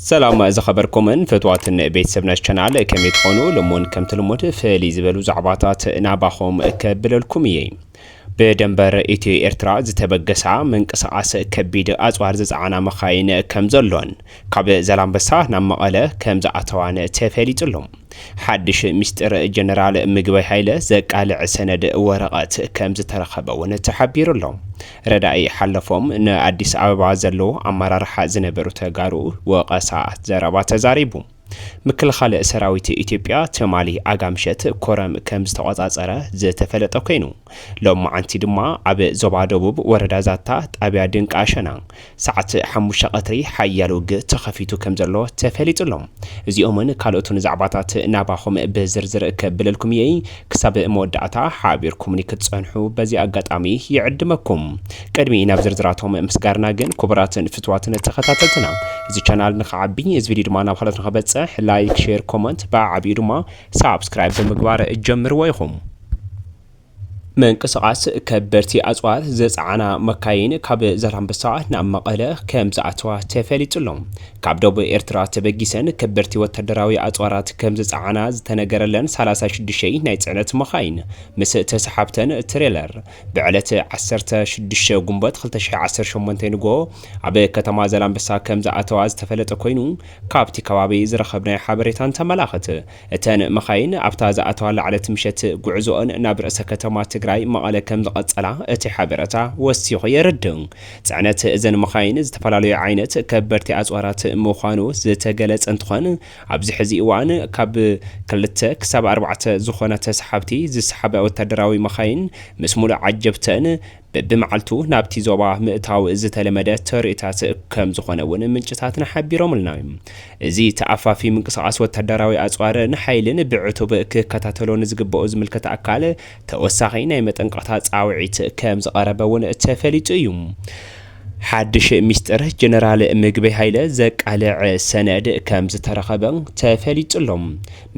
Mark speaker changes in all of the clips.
Speaker 1: ሰላም ዝኸበርኩምን ፍትዋትን ቤተሰብ ነሽ ቻናል ከመይ ትኾኑ? ልሙን ከምቲ ልሙድ ፍልይ ዝበሉ ዛዕባታት ናባኹም ከብለልኩም እየ። ብደንበር ኢትዮ ኤርትራ ዝተበገሳ ምንቅስቓስ ከቢድ ኣጽዋር ዝጸዓና መኻይን ከም ዘሎን ካብ ዘላንበሳ ናብ መቐለ ከም ዝኣተዋን ተፈሊጡ ኣሎ። ሓድሽ ሚስጢር ጀነራል ምግበይ ሃይለ ዘቃልዕ ሰነድ ወረቐት ከም ዝተረኸበ እውን ተሓቢሩ ኣሎ። ረዳኢ ሓለፎም ንኣዲስ ኣበባ ዘለዉ ኣመራርሓ ዝነበሩ ተጋሩ ወቐሳ ዘረባ ተዛሪቡ። ምክልኻል ሰራዊት ኢትዮጵያ ትማሊ ኣጋምሸት ኮረም ከም ዝተቖፃፀረ ዝተፈለጠ ኮይኑ ሎማዕንቲ ድማ ኣብ ዞባ ደቡብ ወረዳ ዛታ ጣብያ ድንቃሸና ሰዓት ሓሙሽተ ቀትሪ ሓያል ውግእ ተኸፊቱ ከምዘሎ ተፈሊጡ ኣሎ። እዚኦምን ካልኦትን ዛዕባታት ናባኹም ብዝርዝር ከብለልኩም እየ። ክሳብ መወዳእታ ሓቢርኩምኒ ክትጸንሑ በዚ ኣጋጣሚ ይዕድመኩም። ቅድሚ ናብ ዝርዝራቶም ምስጋርና ግን ኩቡራትን ፍትዋትን ተኸታተልትና እዚ ቻናል ንኽዓቢ እዚ ቪድዮ ድማ ናብ ኻልኦት ንኽበጽሕ ላይክ ሼር ኮመንት ብዓዓቢኡ ድማ ሳብስክራይብ ብምግባር ጀምርዎ ኢኹም። ምንቅስቓስ ከበድቲ ኣፅዋር ዝፀዓና መካይን ካብ ዛላምበሳ ናብ መቐለ ከም ዝኣተዋ ተፈሊጡ ኣሎ። ካብ ደቡብ ኤርትራ ተበጊሰን ከበድቲ ወታደራዊ ኣፅዋራት ከም ዝፀዓና ዝተነገረለን ሰላሳ ሽዱሽተ ናይ ፅዕነት መኻይን ምስ ተሰሓብተን ትሬለር ብዕለት ዓሰርተ ሽዱሽተ ግንቦት ክልተ ሽሕን ዓሰርተ ሸሞንተን ንግሆ ኣብ ከተማ ዛላምበሳ ከም ዝኣተዋ ዝተፈለጠ ኮይኑ ካብቲ ከባቢ ዝረኸብናዮ ሓበሬታ እንተመላኽት እተን መኻይን ኣብታ ዝኣተዋላ ዕለት ምሸት ጉዕዞኦን ናብ ርእሰ ከተማ ትግራይ መቐለ ከምዝቐፀላ እቲ ሓበረታ ወሲኹ የረድእ። ፅዕነት እዘን መኻይን ዝተፈላለዩ ዓይነት ከበድቲ ኣፅዋራት ምዃኑ ዝተገለፀ እንትኾን ኣብዚ ሕዚ እዋን ካብ ክልተ ክሳብ ኣርባዕተ ዝኾና ተሰሓብቲ ዝሰሓባ ወታደራዊ መኻይን ምስ ሙሉእ ዓጀብተን በብመዓልቱ ናብቲ ዞባ ምእታው ዝተለመደ ተርእታት ከምዝኾነ እውን ምንጭታትና ሓቢሮምልና። እዚ ተኣፋፊ ምንቅስቓስ ወታደራዊ ኣጽዋርን ሓይልን ብዕቱብ ክከታተሎ ንዝግበኦ ዝምልከት ኣካል ተወሳኺ ናይ መጠንቀቕታ ጻውዒት ከምዝቐረበ እውን ተፈሊጡ እዩ። ሓድሽ ሚስጥር ጀነራል ምግበይ ሃይለ ዘቃልዕ ሰነድ ከምዝተረኸበ ተፈሊጡ ኣሎ።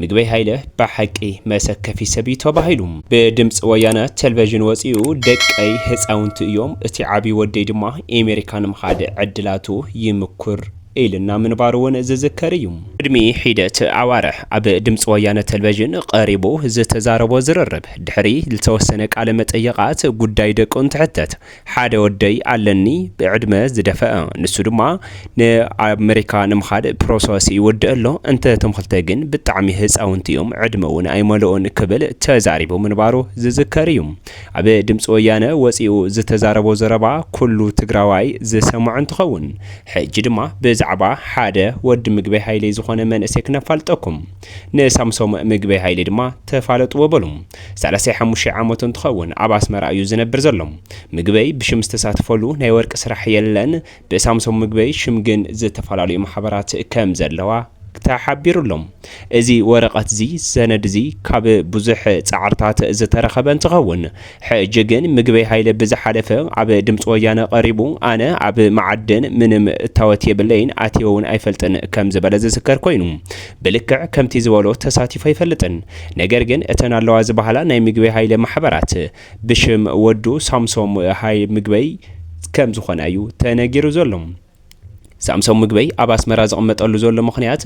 Speaker 1: ምግበይ ሃይለ ባሓቂ መሰከፊ ሰብ እዩ ተባሂሉ ብድምፂ ወያነ ተልቨዥን ወፂኡ ደቀይ ህፃውንቲ እዮም እቲ ዓብይ ወደይ ድማ ኤሜሪካ ንምኻድ ዕድላቱ ይምኩር ኢልና ምንባሩ እውን ዝዝከር እዩ። ቅድሚ ሒደት ኣዋርሕ ኣብ ድምፂ ወያነ ተልቨዥን ቐሪቡ ዝተዛረቦ ዝርርብ ድሕሪ ልተወሰነ ቃለ መጠየቓት ጉዳይ ደቁ እንትሕተት ሓደ ወደይ ኣለኒ ብዕድመ ዝደፈኣ ንሱ ድማ ንኣመሪካ ንምኻድ ፕሮሰስ ይወድእ ኣሎ እንተ እቶም ክልተ ግን ብጣዕሚ ህፃውንቲ እዮም ዕድመ እውን ኣይመልኦን ክብል ተዛሪቡ ምንባሩ ዝዝከር እዩ ኣብ ድምፂ ወያነ ወፂኡ ዝተዛረቦ ዘረባ ኩሉ ትግራዋይ ዝሰምዖ እንትኸውን ሕጂ ድማ ብዛዕባ ሓደ ወዲ ምግበይ ሃይሌ ዝኾነ መንእሰይ ክነፋልጠኩም ንሳምሶም ምግበይ ሃይለ ድማ ተፋለጥዎ በሉ። ሰላሳይ ሓሙሻይ ዓመቱ እንትኸውን ኣብ ኣስመራ እዩ ዝነብር ዘሎ። ምግበይ ብሽም ዝተሳተፈሉ ናይ ወርቂ ስራሕ የለን። ብሳምሶም ምግበይ ሽም ግን ዝተፈላለዩ ማሕበራት ከም ዘለዋ ተሓቢሩ'ሎ። እዚ ወረቐት'ዚ፣ ሰነድ'ዚ፣ ካብ ብዙሕ ጻዕርታት ዝተረኸበ እንትኸውን፣ ሕጂ ግን ምግበይ ሃይለ ብዝሓለፈ ኣብ ድምጺ ወያነ ቀሪቡ ኣነ ኣብ መዓድን ምንም እታወት የብለይን ኣትየ ውን ኣይፈልጥን ከም ዝበለ ዝዝከር ኮይኑ ብልክዕ ከምቲ ዝበሎ ተሳቲፉ ኣይፈልጥን ነገር ግን እተን ኣለዋ ዝበሃላ ናይ ምግበይ ሃይለ ማሕበራት ብሽም ወዱ ሳምሶም ሃይ ምግበይ ከም ዝኾና እዩ ተነጊሩ ዘሎ። ሳምሶም ምግበይ ኣብ ኣስመራ ዝቕመጠሉ ዘሎ ምኽንያት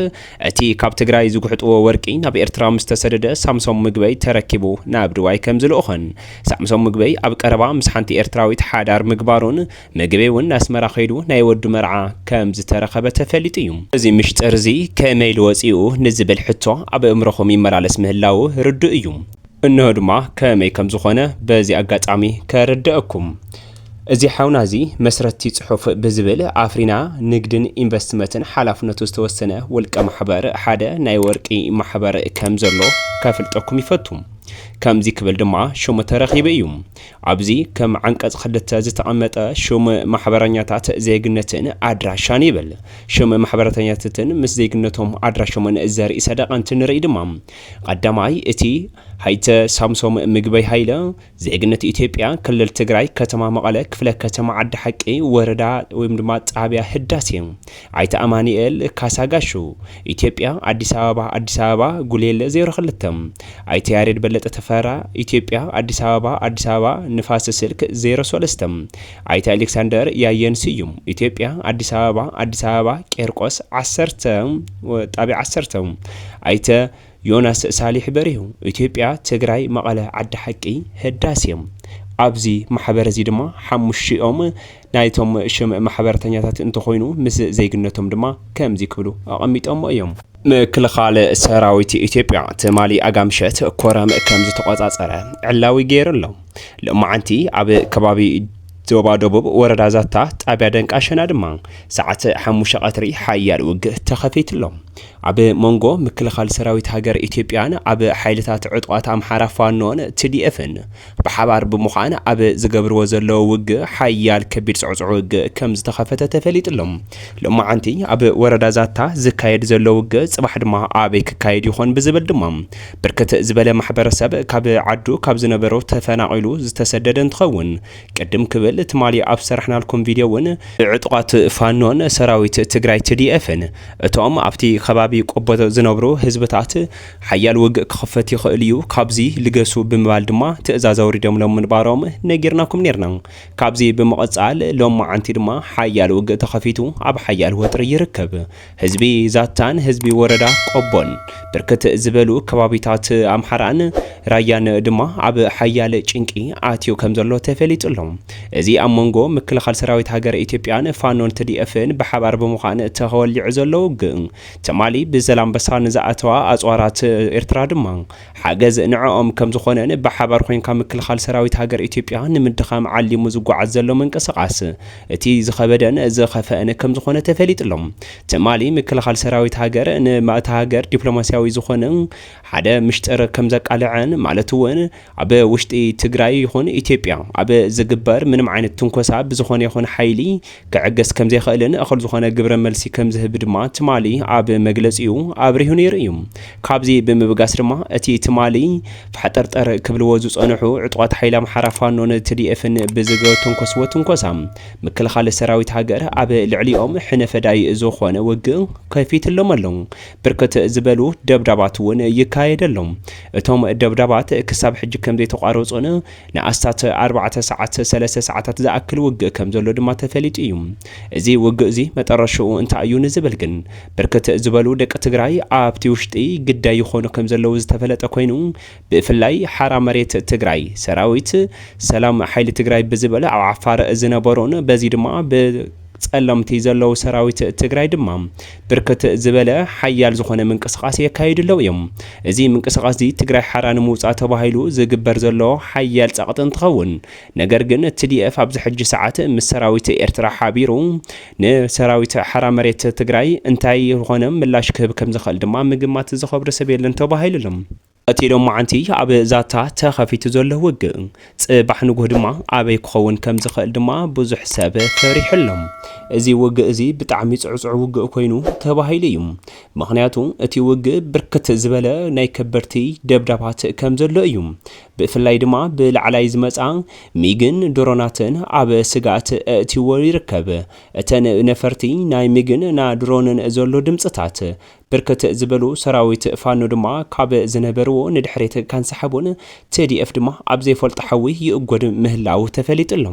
Speaker 1: እቲ ካብ ትግራይ ዝጉሕጥዎ ወርቂ ናብ ኤርትራ ምስ ተሰደደ ሳምሶም ምግበይ ተረኪቡ ናብ ድባይ ከም ዝልእኾን ሳምሶም ምግበይ ኣብ ቀረባ ምስ ሓንቲ ኤርትራዊት ሓዳር ምግባሩን ምግበይ እውን ናስመራ ከይዱ ናይ ወዱ መርዓ ከም ዝተረኸበ ተፈሊጡ እዩ። እዚ ምሽጥር እዚ ከመይ ኢሉ ወጺኡ ንዝብል ሕቶ ኣብ እእምሮኹም ይመላለስ ምህላዉ ርዱእ እዩ። እንሆ ድማ ከመይ ከም ዝኾነ በዚ ኣጋጣሚ ከረደእኩም። እዚ ሓውና እዚ መስረትቲ ፅሑፍ ብዝብል ኣፍሪና ንግድን ኢንቨስትመትን ሓላፍነቱ ዝተወሰነ ውልቀ ማሕበር ሓደ ናይ ወርቂ ማሕበር ከም ዘሎ ከፍልጠኩም ይፈቱ። ከምዚ ክብል ድማ ሹም ተረኺቡ እዩ። ኣብዚ ከም ዓንቀፅ ክልተ ዝተቐመጠ ሹም ማሕበረኛታት ዜግነትን ኣድራሻን ይብል። ሹም ማሕበረተኛትትን ምስ ዜግነቶም ኣድራሾምን ዘርኢ ሰደቐ እንትንርኢ ድማ ቐዳማይ እቲ ሀይተ ሳምሶም ምግበይ ሃይለ ዜግነት ኢትዮጵያ፣ ክልል ትግራይ፣ ከተማ መቐለ፣ ክፍለ ከተማ ዓዲ ሓቂ፣ ወረዳ ወይም ድማ ጣብያ ህዳሴ። ኣይተ ኣማኒኤል ካሳ ጋሹ። ኢትዮጵያ፣ ኣዲስ ኣበባ ኣዲስ ኣበባ፣ ጉሌለ ዜሮ ክልተ። ኣይተ ያሬድ በለጠ ተፈራ። ኢትዮጵያ፣ ኣዲስ ኣበባ ኣዲስ ኣበባ፣ ንፋስ ስልክ ዜሮ ሰለስተ። ኣይተ ኣሌክሳንደር ያየን ስዩም። ኢትዮጵያ፣ ኣዲስ ኣበባ ኣዲስ ኣበባ፣ ቄርቆስ ዓሰርተ፣ ጣብያ ዓሰርተ። ኣይተ። ዮናስ ሳሊሕ በሪሁ፣ ኢትዮጵያ፣ ትግራይ፣ መቐለ፣ ዓዲ ሓቂ፣ ህዳሴ። ኣብዚ ማሕበር እዚ ድማ ሓሙሽቲኦም ናይቶም ሽም ማሕበርተኛታት እንተኾይኑ ምስ ዜግነቶም ድማ ከምዚ ክብሉ ኣቐሚጦሞ እዮም። ምክልኻል ሰራዊት ኢትዮጵያ ትማሊ ኣጋምሸት ኮረም ከም ዝተቖፃፀረ ዕላዊ ገይሩ ኣሎ። ሎማዕንቲ ኣብ ከባቢ ዞባ ደቡብ ወረዳ ዛታ ጣብያ ደንቃሸና ድማ ሰዓት ሓሙሽተ ቀትሪ ሓያል ውግእ ተኸፊቱ ኣሎ። ኣብ መንጎ ምክልኻል ሰራዊት ሃገር ኢትዮጵያን ኣብ ሓይልታት ዕጡቓት ኣምሓራ ፋኖን ትዲኤፍን ብሓባር ብምዃን ኣብ ዝገብርዎ ዘለዉ ውግእ ሓያል ከቢድ ጽዕጹዕ ውግእ ከምዝተኸፈተ ተፈሊጡ'ሎ። ሎማዓንቲ ኣብ ወረዳ ዛታ ዝካየድ ዘሎ ውግእ ጽባሕ ድማ ኣበይ ክካየድ ይኾን ብዝብል ድማ ብርክት ዝበለ ማሕበረሰብ ካብ ዓዱ ካብ ዝነበሮ ተፈናቒሉ ዝተሰደደ እንትኸውን ቅድም ክብል ትማሊ ኣብ ዝሰራሕናልኩም ቪድዮ እውን ብዕጡቓት ፋኖን ሰራዊት ትግራይ ትዲኤፍን እቶም ኣብቲ ከባቢ ቆቦ ዝነብሩ ህዝብታት ሓያል ውግእ ክኽፈት ይኽእል እዩ ካብዚ ልገሱ ብምባል ድማ ትእዛዝ ኣውሪዶምሎም ምንባሮም ነጊርናኩም ኔርና። ካብዚ ብምቕፃል ሎማዓንቲ ድማ ሓያል ውግእ ተኸፊቱ ኣብ ሓያል ወጥሪ ይርከብ። ህዝቢ ዛታን ህዝቢ ወረዳ ቆቦን ብርክት ዝበሉ ከባቢታት ኣምሓራን ራያን ድማ ኣብ ሓያል ጭንቂ ኣትዩ ከምዘሎ ተፈሊጡ ኣሎ። እዚ ኣብ መንጎ ምክልኻል ሰራዊት ሃገረ ኢትዮጵያን ፋኖን ትዲኤፍን ብሓባር ብምዃን ተወሊዑ ዘሎ ውግእ ትማሊ ብዘላምበሳ ንዝኣተዋ ኣፅዋራት ኤርትራ ድማ ሓገዝ ንዐኦም ከምዝኾነን ብሓባር ኮይንካ ምክልኻል ሰራዊት ሃገር ኢትዮጵያ ንምድኻም ዓሊሙ ዝጓዓዝ ዘሎ ምንቅስቓስ እቲ ዝኸበደን ዝኸፈእን ከምዝኾነ ተፈሊጡ'ሎ። ትማሊ ምክልኻል ሰራዊት ሃገር ንእታ ሃገር ዲፕሎማሲያዊ ዝኾነ ሓደ ምሽጥር ከምዘቃለዐን ማለት'ውን ኣብ ውሽጢ ትግራይ ይኹን ኢትዮጵያ ኣብ ዝግበር ምንም ዓይነት ትንኮሳ ብዝኾነ ይኹን ሓይሊ ክዕገስ ከምዘይኸእልን እኹል ዝኾነ ግብረ መልሲ ከምዝህብ ድማ ትማሊ ኣብ መግለጺኡ ኣብሪሁ ነይሩ እዩ። ካብዚ ብምብጋስ ድማ እቲ ትማሊ ፋሕጠርጠር ክብልዎ ዝጸንሑ ዕጡቓት ሓይሊ ኣምሓራ ፋኖን ትዲኤፍን ብዝገተንኮስዎ ትንኮሳ ምክልኻል ሰራዊት ሃገር ኣብ ልዕሊኦም ሕነ ፈዳይ ዝኾነ ውግእ ከፊትሎም ኣሎ። ብርክት ዝበሉ ደብዳባት እውን ይካየደሎም። እቶም ደብዳባት ክሳብ ሕጂ ከምዘይተቋረጹን ንኣስታት ኣርባዕተ ሰዓት፣ ሰለስተ ሰዓታት፣ ዝኣክል ውግእ ከም ዘሎ ድማ ተፈሊጡ እዩ። እዚ ውግእ'ዚ መጠረሽታኡ እንታይ እዩ ንዝብል ግን ብርክት ዝበሉ ደቂ ትግራይ ኣብቲ ውሽጢ ግዳይ ይኾኑ ከም ዘለዉ ዝተፈለጠ ኮይኑ ብፍላይ ሓራ መሬት ትግራይ ሰራዊት ሰላም ሓይሊ ትግራይ ብዝብል ኣብ ዓፋር ዝነበሩን በዚ ድማ ብፀለምቲ ዘለዉ ሰራዊት ትግራይ ድማ ብርክት ዝበለ ሓያል ዝኾነ ምንቅስቓስ የካይዱ ኣለው እዮም። እዚ ምንቅስቓስዚ ትግራይ ሓራ ንምውፃእ ተባሂሉ ዝግበር ዘሎ ሓያል ፀቕጢ እንትኸውን ነገር ግን tdf ኣብዚ ሕጂ ሰዓት ምስ ሰራዊት ኤርትራ ሓቢሩ ንሰራዊት ሓራ መሬት ትግራይ እንታይ ዝኾነ ምላሽ ክህብ ከምዝኽእል ድማ ምግማት ዝኸብዶ ሰብ የለን ተባሂሉ ኣሎ። እቲ ሎማዓንቲ ኣብ ዛታ ተኸፊቱ ዘሎ ውግእ ጽባሕ ንጉህ ድማ ኣበይ ክኸውን ከም ዝኽእል ድማ ብዙሕ ሰብ ፈሪሑ ኣሎ። እዚ ውግእ እዚ ብጣዕሚ ጽዕጹዕ ውግእ ኮይኑ ተባሂሉ እዩ። ምኽንያቱ እቲ ውግእ ብርክት ዝበለ ናይ ከበድቲ ደብዳባት ከም ዘሎ እዩ። ብፍላይ ድማ ብላዕላይ ዝመጻ ሚግን ድሮናትን ኣብ ስግኣት ኣእትይዎ ይርከብ። እተን ነፈርቲ ናይ ሚግን ና ድሮንን ዘሎ ድምጽታት ብርክት ዝበሉ ሰራዊት ፋኖ ድማ ካብ ዝነበርዎ ንድሕሪት ከንሳሕቡን tdf ድማ ኣብ ዘይፈልጦ ሓዊ ይእጎድ ምህላው ተፈሊጡ ኣሎ።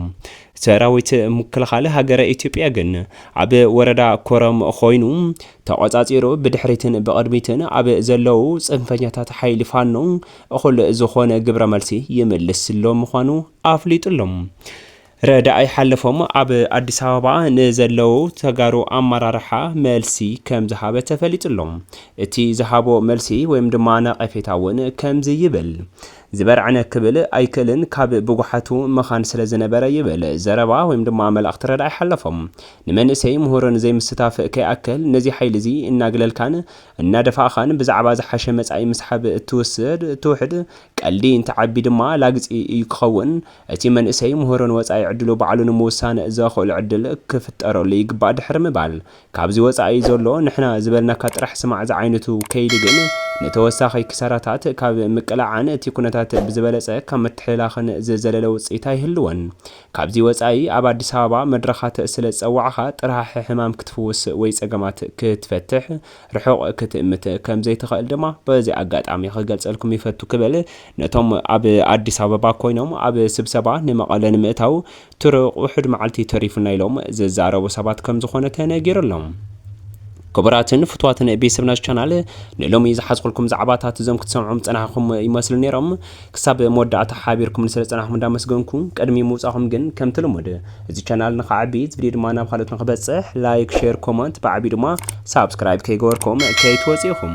Speaker 1: ሰራዊት ምክልኻል ሃገረ ኢትዮጵያ ግን ኣብ ወረዳ ኮረም ኾይኑ ተቖፃፂሩ ብድሕሪትን ብቕድሚትን ኣብ ዘለው ፅንፈኛታት ሓይሊ ፋኖ እኹል ዝኾነ ግብረ መልሲ ይምልስሎም ምዃኑ ኣፍሊጡ ኣሎ። ረዳኢ ሓለፎም ኣብ ኣዲስ ኣበባ ንዘለው ተጋሩ ኣመራርሓ መልሲ ከምዝሃበ ተፈሊጡ ኣሎ። እቲ ዝሃቦ መልሲ ወይም ድማ ነቐፌታ እውን ከምዚ ይብል፣ ዝበርዕነ ክብል ኣይክእልን ካብ ብጉሓቱ መኻን ስለዝነበረ ይብል ዘረባ ወይም ድማ መልእኽቲ ረዳኢ ሓለፎም። ንመንእሰይ ምሁርን ዘይምስታፍ ከይኣክል ነዚ ሓይሊ እዚ እናግለልካን እናደፋእኻን ብዛዕባ ዝሓሸ መፃኢ ምስሓብ እትውስድ እትውሕድ ቀልዲ እንትዓቢ ድማ ላግፂ እዩ ክኸውን እቲ መንእሰይ ምህሮ ንወጻኢ ዕድሉ ባዕሉ ንምውሳን ዘኸእሎ ዕድል ክፍጠረሉ ይግባእ ድሕሪ ምባል፣ ካብዚ ወጻኢ እዩ ዘሎ፣ ንሕና ዝበልናካ ጥራሕ ስማዕ ዝዓይነቱ ከይዲ ግን ንተወሳኺ ክሳራታት ካብ ምቅላዕን እቲ ኩነታት ብዝበለጸ ካብ ምትሕልላኽን ዝዘለለ ውጽኢት ኣይህልዎን። ካብዚ ወጻኢ ኣብ ኣዲስ ኣበባ መድረኻት ስለ ዝጸዋዕኻ ጥራሕሕ ሕማም ክትፍውስ ወይ ጸገማት ክትፈትሕ ርሑቕ ክትእምት ከም ዘይትኸእል ድማ በዚ ኣጋጣሚ ክገልጸልኩም ይፈቱ ክብል ነቶም ኣብ ኣዲስ ኣበባ ኮይኖም ኣብ ስብሰባ ንመቐለ ንምእታው ትሩቕ ውሑድ መዓልቲ ተሪፉና ኢሎም ዝዛረቡ ሰባት ከም ዝኾነ ተነጊሩ ኣሎ። ክቡራትን ፍትዋትን ቤሰብናዝ ቻናል ንሎሚ ዝሓዝኩልኩም ዛዕባታት እዞም ክትሰምዑም ዝጸናሕኹም ይመስሉ ኔሮም። ክሳብ መወዳእታ ሓቢርኩምኒ ስለ ዝጸናሕኩም እንዳመስገንኩ ቅድሚ ምውጻኹም ግን ከምቲ ልሙድ እዚ ቻናል ንኽዓቢ እዚ ቪድዮ ድማ ናብ ካልኦት ንኽበጽሕ ላይክ ሼር ኮመንት ብዓቢኡ ድማ ሳብስክራይብ ከይገበርኩም ከይትወጹ ኢኹም።